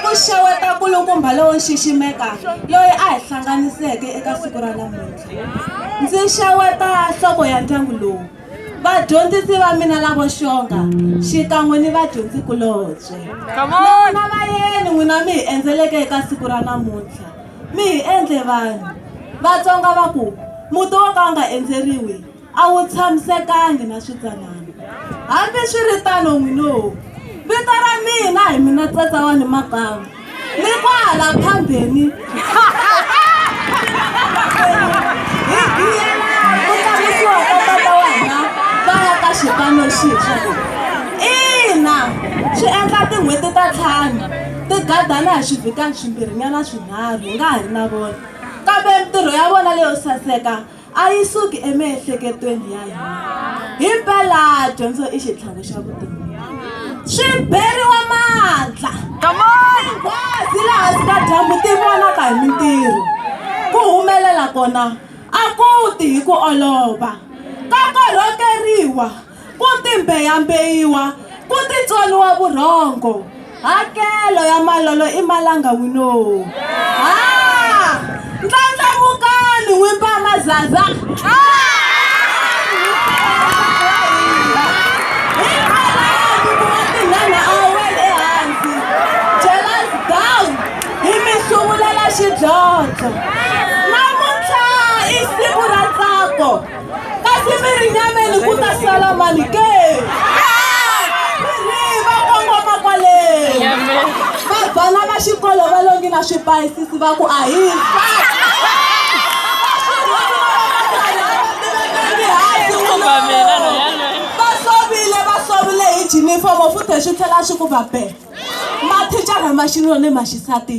ku xeweta nkulukumba lowo xiximeka loyi a hi hlanganiseke eka siku ra namuntlha ndzi xeweta nhloko ya ndyangu lowu vadyondzisi va mina lavo xonga xikan'we ni vadyondzikulobye nona va yeni n'wina mi hi endzeleke eka siku ra namuntlha mi hi endle vanhu vatsonga va ku muti wo ka wu nga endzeriwi a wu tshamisekangi na switsanana. Hambi swi ri tano n'winohu, vito ra mina hi mina tsatsa wa ni makamu ni kwahala phambeni xipano xintshwa ina swi endla tin'hweti ta ntlhanu ti gadana hi swivhikani swimbirhinyana swinharhu hi nga ha ri na vona kambe mintirho ya vona leyo saseka a yi suki emiehleketweni ya hina himpela dyondzo i xitlhangu xa vutomi swi beriwa mandla nghwazi laha swi ka dyambu ti vonaka hi mintirho ku humelela kona a ku ti hi ku olova ka korhokeriwa Ku timbeyambeyiwa, ku titsoniwa vurhongo, hakelo ya malolo i malanga winoo. Ha! Ndlandlamukani n'wi ba mazaza! Xidlodlo. Namuntlha i siku ra ntsako. kasi mirinyameni ku ta sala mani ke va kongoma kwale va bana va xikolo va longi na swipayisisi va ku ahisa va sovile va sovile hi jinifomo futhi swi tlhela swi ku va be mathicara ma xinuna ni ma xisati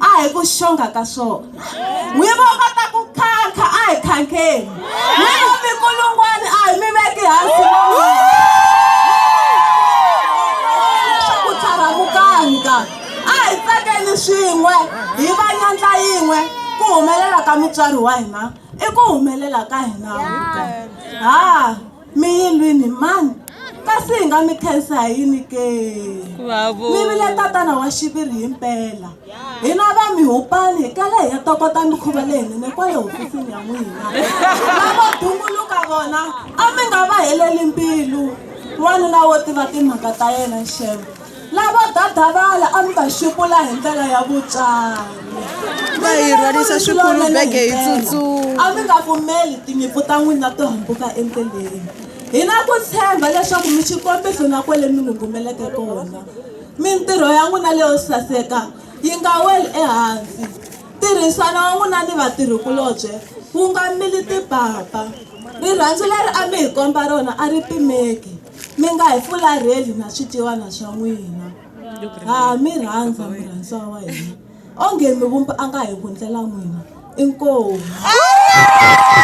a hi ku xonga ka swona n'wi vo va ta ku khankha a hi khankheni n'wi vo minkulungwani a hi mi veki hansi leswaku tlharamukanga a hi tsakeni swin'we hi va nyandla yin'we ku humelela ka mutswari wa hina i ku humelela ka hina ha mi yi lwini mani kasi hi nga mi khensa hi yini ke mi vile tatana wa xiviri hi mpela hina va mi hupani hi kale hi ya tokota mikhuva leyinene kwale hofisini ya n'wina lavo dunguluka vona a mi nga va heleli mbilu wanuna wo tiva timhaka ta yena xevo Lavo dadavala a mi va xupula hi ndlela ya vutswari. Va hi rhwarisa swikulu bege hi tsutsuma. A mi nga pfumeli tinyimpfu ta n'wina to hambuka endleleni. Hi na ku tshemba leswaku mi xikombiso na kwale mi ngungumeleke kona. Mintirho ya n'wina leyo saseka yi nga weli ehansi. Ntirhisano wa n'wina ni vatirhikulobye wu nga mili timpapa. Rirhandzu leri a mi hi komba rona a ri pimeki. Mi nga hi fularheli na swiciwana swa n'wina. Ha mi rhandza murhandziwa wa hina. Onge mivumbi a nga hi vundlela n'wina. Inkomu.